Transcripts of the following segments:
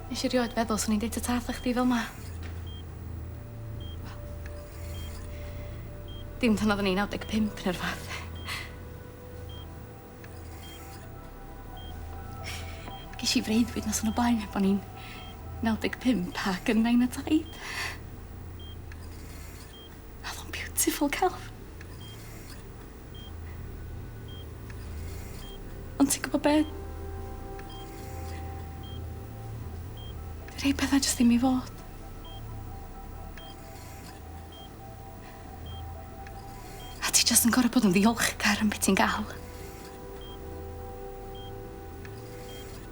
Nes i rioed feddwl swn i'n deud ta ta wrtha chdi fel 'ma. Wel. Dim pan oddwn i'n naw deg pump ne' rwbath. Gesh i freuddwyd noson o blaen heb o'n i'n naw deg pump ac yn nain a taid. O'dd o'n beautiful celf. Ond ti gwbo be'? Rhei petha jyst ddim i fod. A ti jyst yn gor'o' bod yn ddiolchgar am be' ti'n ga'l.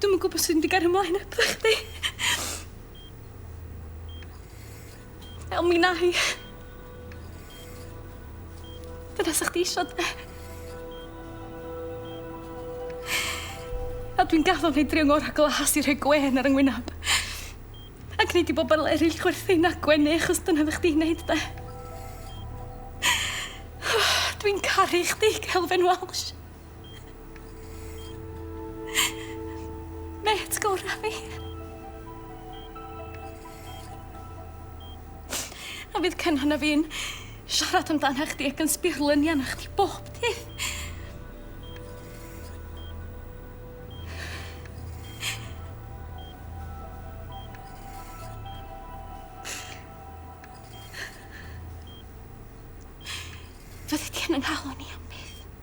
Dwi'm yn gwbo sut mynd i gario mlaen hebddo chdi. Fel mi na'i. Dyna sa chdi isio de? A dwi'n gaddo neud drio ngora glas i rhoi gwên ar 'y ngwynab. Ac neud i bobol eryll chwerthin a gwenu achos dyna oddach chdi'n neud de? Dwi'n caru chdi Kelvin Welsh. Mêt gora fi. A fydd Cynan a fi'n siarad amdana chdi ac yn sbio lyni arna chdi bob dydd. Fyddi di yn ynghalon i am byth.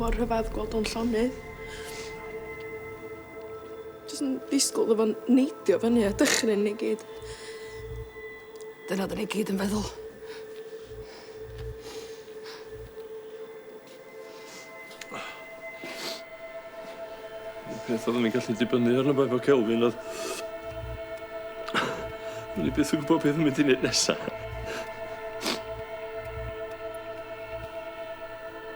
mor rhyfadd gweld o'n llonydd. Jyst yn disgwl iddo fo neidio fyny a dychryn ni gyd. Dyna oedden ni gyd yn feddwl. Y peth oeddwn i'n gallu dibynnu arno fo efo Kelvin oedd... O'n i byth yn gwybod beth yn mynd i wneud nesa.